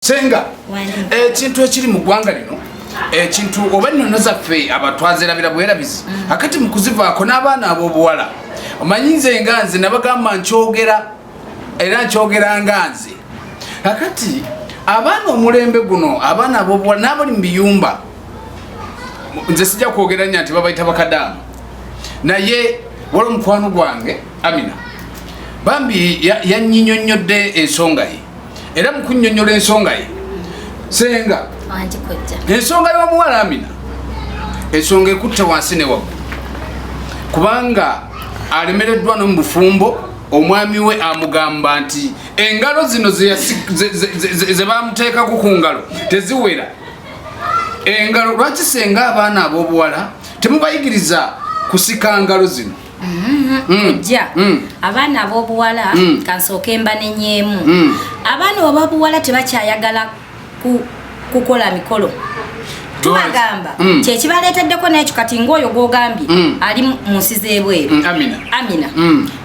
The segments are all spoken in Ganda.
senga ekintu ekiri mu ggwanga lino ekintu oba ennono zaffe abatwazerabira bwerabizi mm. akati mu kuzivaako n'abaana ab'obuwala omanyi nze nga nze nabagamba nkyogera era nkyogera nga nze akati abaana omulembe guno abaana ab'obuwala n'abali mu biyumba nze sijja kwogera nya nti babayita bakadaama naye wali omukwano gwange amina bambi yanyinyonnyodde ensonga ye era mu kunnyonnyola ensonga ye senga ensonga y'omuwala amina ensonga ekutte wansi ne waggulu kubanga alemereddwa no mu bufumbo omwami we amugamba nti engalo zino ze bamuteekako ku ngalo teziwera engalo lwaki senga abaana ab'obuwala temubayigiriza kusika ngalo zino Mm-hmm. Mm. kujja mm. abaana ab'obuwala mm. kansooke mba nenyeemu abaana obabuwala tebakyayagala kukola mikolo tubagamba kyekibaleeteddeko nekyo kati ngaoyo gwogambye ali mu nsi z'ebweru amina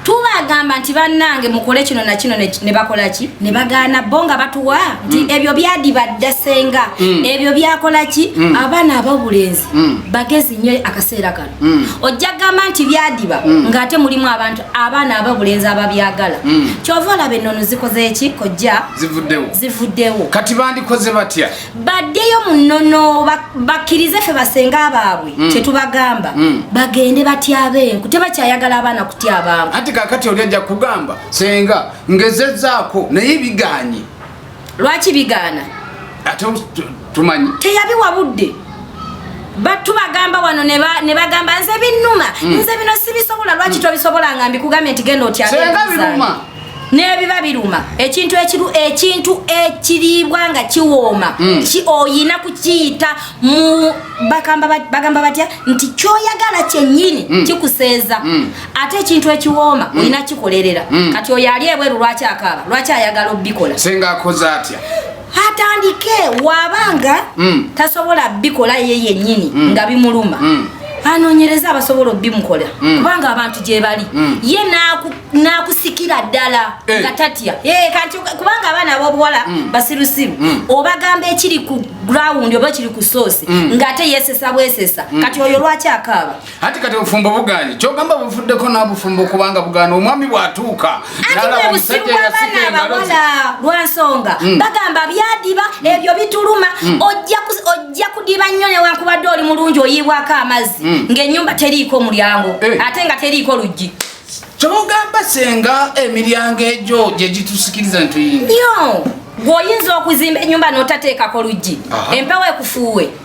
tubagamba nti bannange mukole kino nakino ne bakola ki ne bagaana bo nga batuwa nti mm. ebyo byadibadda senga mm. ebyo byakola ki mm. abaana abawulenzi bagezi nnyo akaseera kano Mm. ojja gamba nti byadiba mm. ng'ate mulimu abantu abaana ababulenzi ababyagala mm. kyova olaba enono zikozeki kojja zivuddewo kati bandikoze batya baddeyo mu nnono bakkirize ffe basenga baabwe kyetubagamba bagende batyabenku tebakyayagala abaana kutyabangu anti kakati oli ajja kugamba senga ngezezaako naye biganye lwaki bigaana ate tumanyi teyabiwa budde batu bagamba wano ne bagamba nze binnuma mm. nze bino sibisobola lwaki mm. tobisobola nga mbikugambye nti genda otyaebiruuma nebiba biruma ekintu ekiru ekintu ekiriibwa nga kiwooma mm. ki oyina kukiyita mu bagamba batya nti kyoyagala kyenyini mm. kikuseeza mm. ate ekintu ekiwooma mm. olina kikolerera mm. kati oyo ali ebweru lwaki akaaba lwaki ayagala obikola senga akoze atya atandike wabanga mm. tasobola bikola ye yenyini mm. nga bimuluma mm. anonyereza abasobola obimukola mm. kubanga abantu gyebali mm. ye nakusikira naku ddala hey. Eh. nga tatya hey, eh, kanti kubanga abaana abobuwala mm. basirusiru mm. obagamba ekiri ku ground oba kiri ku sosi mm. nga ate yesesa bwesesa mm. kati oyo lwaki akaaba Ati kati obufumbo buganye kyogamba buvuddeko n'abufumbo kubanga bugana omwami bw'atuuka nalabamusajja yasika engalo lwansonga mm. bagamba byadiba mm. ebyo bituluma mm. ojja kudiba nnyo newankubadde oli mulungi oyiibwako amazzi ng'ennyumba teriiko mulyango eh. ate nga teriiko luggi kyogamba senga emiryango egyo gye gitusikiriza ntuyinga gwoyinza okuzimba enyumba notateekako luggi empewo ekufuuwe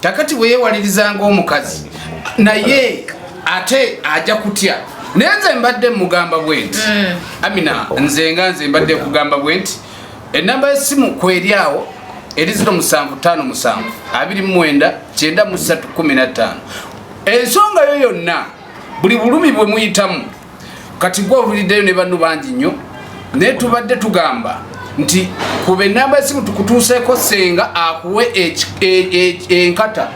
kakati bwe yeewalirizanga omukazi naye ate aja kutya naye nze mbadde mugamba bwenti mm. amina nze nga nze mbadde kugamba bwenti enamba yesimu kweri awo eri ziro musanvu tano musanvu abiri mumwenda kyenda musatu kumi na ttaano ensonga yo yonna buli bulumi bwe muyitamu kati gwe owuliddeyo ne banno bangi nnyo naye tubadde tugamba nti kuba enamba esimu tukutuuseeko senga akuwe e, e, e, enkata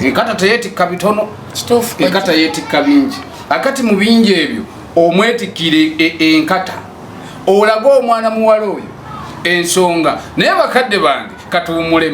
enkata teyetikka bitono enkata yetikka bingi akati mu bingi ebyo omwetikire enkata olage omwana muwala oyo ensonga naye bakadde bange katuwumulemu